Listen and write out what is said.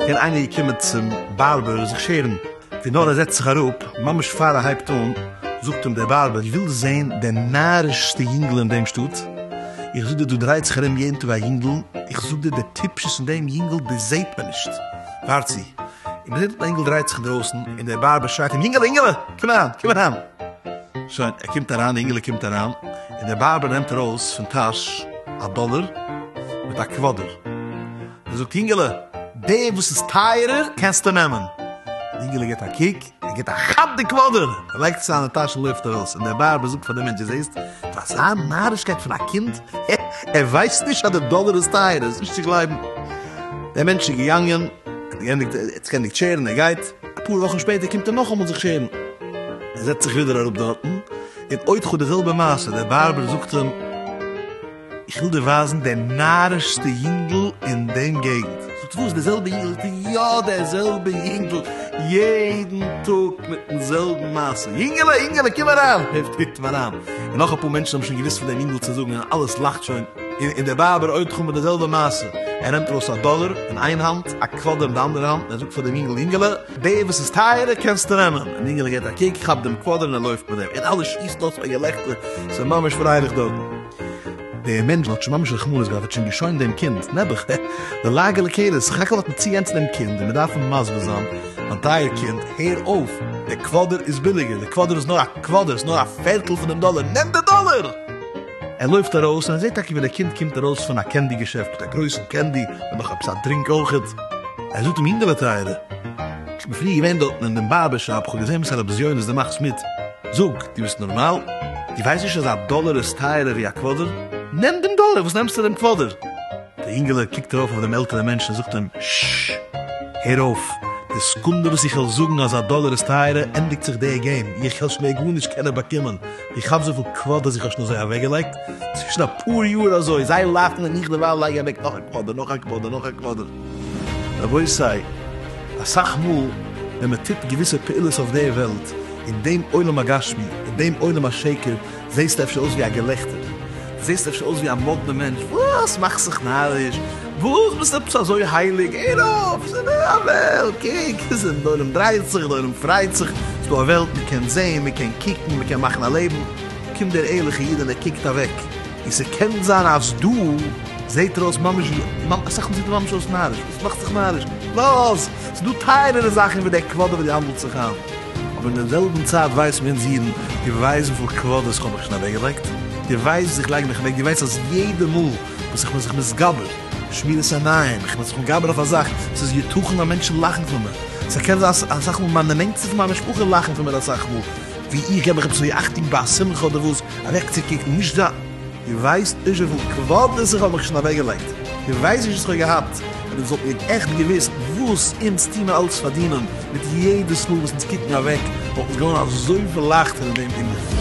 קען איינער געקומען צום בארבער זיך שערן? ווי נאר ער זעצט זיך אראפ, ממש פאר ער הייבט אן, זאגט אים דער בארבער, ווילסט זען די נארישסטע יונגעל אין דעם שטאט? איך זאג דיר דא דרייט זיך ארום יעדן טאג א יונגעל, איך זאג דיר די טיפשות אין דעם יונגעל דאס זעט מען נישט, ווארט צו, און מען זעט דאָס אינגעל דרייט זיך דרויסן, און דער באַרבער שרייט אים, יינגעלע, יינגעלע, קום אַריין, קום אַריין! שוין, ער קומט אַריין, די אינגעלע קומט אַריין, און דער באַרבער נעמט אַרויס פון טאַש אַ דאָלער מיט אַ קוואָדער, און זאָגט, יינגעלע, דעם, וואָס איז טייערער, קענסטו נעמען. די אינגעלע גיט אַ קוק, ער גיט א כאפ די קוואדער, ער לייגט עס אין זיינע טאש און לויפט ארויס, און דער בארבער זאגט פאר דעם מענטש, דו זעסט? פאר אזא נארישקייט פון א קינד, הע, ער ווייסט נישט אז די דאלער איז טייער, ער איז נישט צו גלייבן. דער מענטש איז געגאנגען, ער האט געענדיגט, ער האט זיך געענדיגט שערן, ער גייט, אפאר וואכן שפעטער קומט ער נאכאמאל זיך שערן, ער זעצט זיך ווידער אראפ דארטן, און עוד חו די זעלבע מעשה, דער בארבער זאגט אים, איך וויל דיר ווייזן די נארישסטע יונגל אין דעם געגנט. זאגט וואס? די זעלבע יונגל? זאגט ער, יא די זעלבע יונגל, יעדן טאג מיטן זעלבן מעשה, יונגעלע יונגעלע קום אריין, העפט קוקט אים אריין, און נאך אפאר מענטשן האבן שוין געוואוסט פון דעם יונגל צו זאגן און אלעס לאכט שוין, און דער בארבער עוד חמור די זעלבע מעשה, ער נעמט ארויס א דאלער אין איין האנט, א קוואדער אין די אנדערע האנט, און ער זאגט פאר דעם יונגל, יונגעלע, די וואס איז טייערער קענסטו נעמען, און יונגעלע געבט א קוק, כאפט דעם קוואדער און ער לויפט מיט דעם, און אלע שיסן אויס פאר געלעכטער, ס'איז ממש פרייליך דארטן. דער מענטש האט שוין ממש רחמנות געהאט, ער האט שוין געשוינט דעם קינד, נעבעך, העע, די לאגע לקויות, סך הכל האט מען צוגענצן דעם קינד און מען דארף אים מסביר זיין, מיין טייער קינד, הער אויף, דער קוואדער איז ביליגער, דער קוואדער איז נאר א קוואדער, ס'איז נאר א פערטל פון דעם דאלער, נעם די דאלער! ער לויפט ארויס און ער זעט טאקע ווי דער קינד קומט ארויס פון א קענדי געשעפט מיט א גרויסן קענדי און נאך עפעס א דרינק אויכעט, ער זאגט אים, יונגעלע טייערע, איך בין פריער געווען דארטן אין דעם בארבער שאפ, איך האב געזען וואס הרב זיוני איז דערמאכט מיט. זאג, דו ביסט נארמאל? דו ווייסט נישט אז א דאלער איז טייערער ווי א קוואדער? נעם דעם דאלער, וואס נעמסטו דעם קוואדער? דער אינגעלע קוקט ארויף אויף דעם עלטערן מענטשן און זאגט אים, ששש! הער אויף! די סעקונדע וואס איך וועל זאגן אז א דאלער איז טייערער, ענדיגט זיך דער געים, איך העל שוין מער גארנישט קענען באקומען, איך כאפ וויפיל קוואדערס איך האב שוין אזוי אוועקגעלייגט, צווישן אפאר יאר אזוי, זיי לאכן און איך דערווייל לייג אוועק נאך א קוואדער, נאך א קוואדער, נאך א קוואדער. רבותי, אסאך מאל ווען מען טוט געוויסע פעולות אויף דער וועלט, אין דעם עולם הגשמי, אין דעם עולם השקר, זעסטו אפשר אויס ווי א געלעכטער, זעסט אפשר אויס ווי א מאדנע מענטש, וואס מאכסט זיך נאריש, וואס ביסט עפעס אזוי הייליג, הער אויף, ס'איז נאר א וועלט, קוק, דער עולם דרייט זיך, דער עולם פרייט זיך, ס'איז דא א וועלט, מען קען זען, מען קען קוקן, מען קען מאכן א לעבן, קומט דער ערליכער איד און ער קוקט אוועק. און ס'קען זיין אז דא זעהט ער אויס ממש ווי, אסאך מאל זעהט ער ממש אויס נאריש, וואס מאכסט זיך נאריש, לאז! ס'דא טייערערע זאכן ווי די כבוד וואס דו האנדלסט זיך איין. אבער אין די זעלבן צייט ווייסט מען אונז אידן, דו ווייסט וויפיל כבוד'ס כ'האב מיך שוין אוועקגעלייגט? דו ווייסט וואס איך לייג מיך אוועק? דו ווייסט אז יעדע מאל וואס איך בין זיך מתגבר, שמירת עיניים, איך בין זיך מתגבר אויף א זאך, ס'איז יתכן אז מענטשן לאכן פון מיר, ס'קען זיין אז אסאך מאל מיינע נענטסטע פון מיין משפחה לאכן פון מיר אסאך מאל, ווי איך געב מיך עפעס אזוי אכטונג ביי א שמחה אדער וואס, אוועקצוקוקן, נישט דא. דו ווייסט נישט וויפיל כבוד עס איך האב מיך שוין אוועקגעלייגט, דו ווייסט נישט וואס איך האב געהאט, אויב אונז וואלטן מיר עכט געוואוסט וואס אונז טוהן אלץ פארדינען, מיט יעדעס מאל וואס אונז קוקן אוועק, וואלט אונז געווארן אזויפיל לייכטער אין דעם ענין.